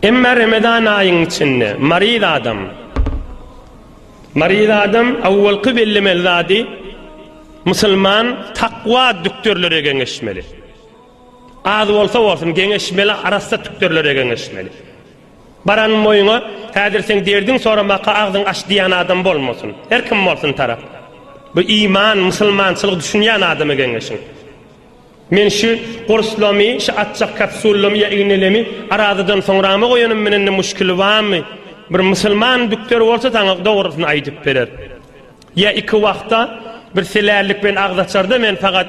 Emma Ramazan aýyň içinde maryz adam maryz adam awwalky bellemeli zady musulman takwa dükdürlere geňeşmeli. Az bolsa bolsun geňeşmeli, arassa dükdürlere geňeşmeli. Baran moýuna häzir sen derdin soramaka agzyň aç diýen adam bolmasyn. Her kim bolsun tarap. Bu iman, musulmançylyk düşünýän adamy geňeşiň. Men şü gurslamy, şü atjak kapsullamy ýa ignelemi arazadan soňrama goýanym menende muşkili bamy? Bir musulman dükter bolsa saňa dogrusyny aýdyp berer. Ýa iki wagta bir selällik bilen agzaçarda men fagat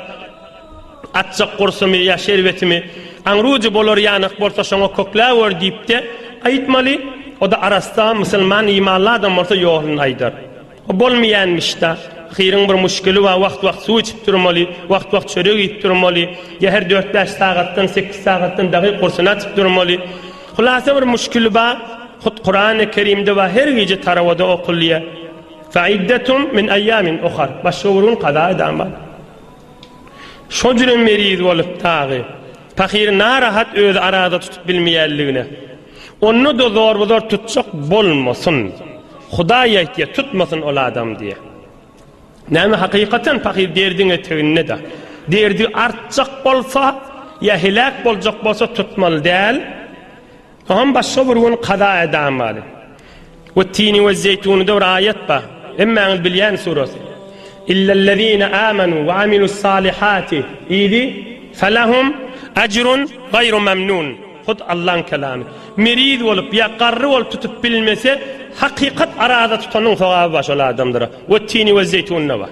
atjak gursumy ýa şerbetimi aňrujy bolar ýanyk bolsa şoňa kökläwer diýipde aýtmaly. Oda arassa musulman imanly adam bolsa ýoluny aýdar. Bu bolmaýanmyşda. Ahyryň bir muşkili bar, wagt-wagt suw içip durmaly, wagt-wagt çörek iýip durmaly, ýa her dört-bäş sagatdan, sekiz sagatdan dagy gursyny açyp durmaly. Hulasa bir muşkili bar. Hut Kurany Kerimde bar, her gije tarawada okulýar. Fe iddetum min eýamin ohar. Başga bir gün kaza edan bar. Şo jüri meriz bolup dagy. Pahyr narahat özi arada tutup bilmeýänligine. Onda-da zorbazor tutjak bolmasyn. Hudaý aýtýar, tutmasyn ol adam diýýär. Näme hakykatan pahyr derdiň eteginde-de. Derdi artjak bolsa, ýa heläk boljak bolsa tutmaly däl. Oňam başga bir gün kaza edamaly. We tini we zeýtunyda bir aýat bar. Hemmäňiz bilýän surat. Illellezine amanu we amilus salihati idi felahum ajrun gaýru mamnun. Hut Allaň kelamy. Meriz bolup ýa garry bolup tutup bilmese, hakykat araza tutanyň sogaby bar şol adamlara. We tini we zeýtunna bar.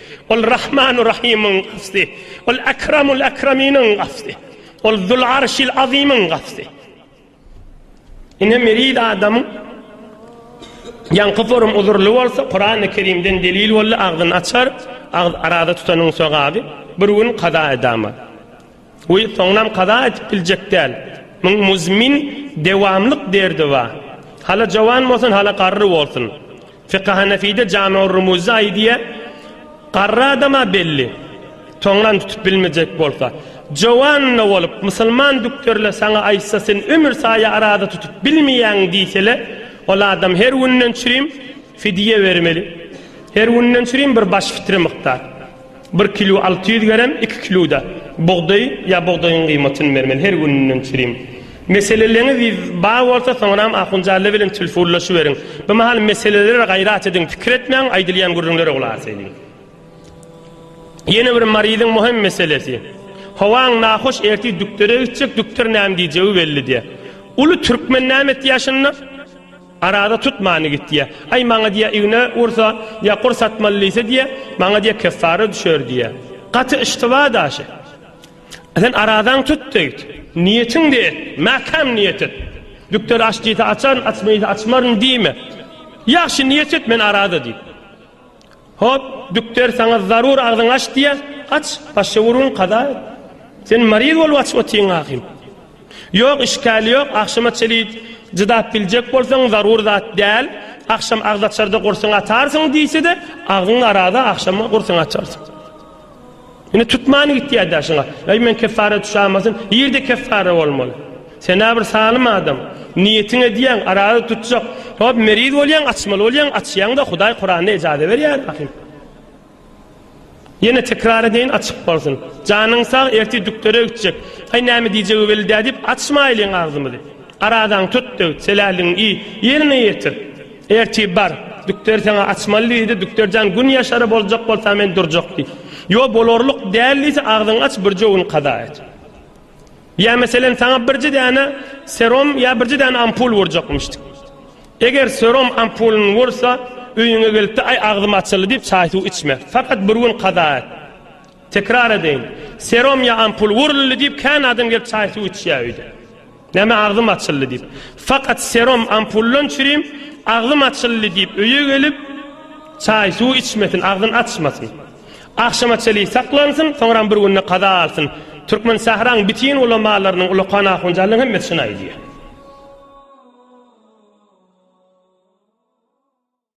Ol Rahmanu Rahymyň Gawsy, Ol Akramul Akraminiň Gawsy, Ol Zul Arşil Azymyň Gawsy. Ine meriz adamyň ýaňky forum uzurly bolsa, Kurany Kerimden delil boldy, agzyny açar, agz arada tutanyň sogaby, bir gün kaza edama. Goý, soňunam kaza etip biljek däl. Muň muzmin, dewamlyk derdi bar. Hala jowan bolsun, hala garry bolsun. Fiky Hanefide Jamy-ur Rumuzda aýdýa, Garry adam-a belli, soňunam tutup bilmejek bolsa. Jowan-da bolup, musulman dükderle saňa aýtsa, sen ömür saýa araza tutup bilmeýäň diýsele, ol adam her günden çürim fidýe bermeli. Her günden çürim bir baş fitre mukdar. Bir kilo alty ýüz gerem, iki kiloda bugdaý ýa bugdaýyň gyýmatyny bermeli, her gününden çürim. Meseleleňiz bar bolsa, soňram Ahunjalla bilen tilfunlaşyberiň. Bu mahal meselelere gaýrat ediň, pikir etmäň, aýdylýan gürrüňlere gulak ediň. Ýene bir maryzyň möhüm meselesi. Howaň nahoş, ertir dükdere gitjek, dükder näme diýjegi belli däl. Uly türkmen näme etýär şunda? Arada tutmany git diýýä. Aý, maňa diýýä, igne ursa, ýa kur satmaly diýse diýýä, maňa diýýä, keffara düşer diýýä. Gaty yştyba daşy. Sen aradaňy tut diýdi. Niýetiňde et, mäkäm niýet et. Dükder aç diýse açaryn, açma diýse açmaryn diýme. Ýagşy niýet et, men arada diýdi. Hop, dükder saňa zarur agzyňy aç diýýä, aç, başga gürrüň kaza et. Sen maryz bolup aç otyň ahym. Ýok, işgäl ýok, agşama çeli cydap biljek bolsaň zarur zat däl, agşam agzaçarda gursyň atarsyň diýse-de, agzyň araza agşama gursyň açarsyň. Indi tutman gitýär daşyňa. Eý men keffara düşämasyn, ýerde keffara bolmaly. Sen-ä bir salym adam. Niýetiň edýäň, araza tutjak. Hop, meriz bolýaň, açmaly bolýaň, açýaň-da, Hudaý Kuranda ejaza berýär ahim. Ýene tekrar edeýin, açyk bolsun. Janyň sag, ertir dükdere gitjek. Aý, näme diýjegi belli-dä diýip, açmaýlyň agzymyzy. Arazaňy tut-da git, seläligiňi iý, ýerine ýetir. Ertiri bar, dükderi saňa açmaly diýdi, dükder jan gün ýaşary boljak bolsa men durjak diý. Ýo bolarlyk däl diýse agzyňy aç birje gün kaza et. Ýa meselen saňa birje däne serom ýa birje däne ampul wurjakmyşdyk. Eger serom ampulyny wursa öýüňe gelipde aý agzym açyldy diýip çaý suw içme. Fakat bir gün kaza et. Tekrar edeýin, serom ýa ampul wuruldy diýip kän adam gelip çaý suw içýä öýde. Näme agzym açyldy diýip. Fakat serum ampullan çürim agzym açyldy diýip öýe gelip çaý suw içmesin agzyn açmasyn. Agşama çeli saklansyn soňram bir günde kaza alsyn. Türkmen sähraň bitin ulamalarynyň ulakan ahunjanlarynyň hemmesi şuny aýdýar.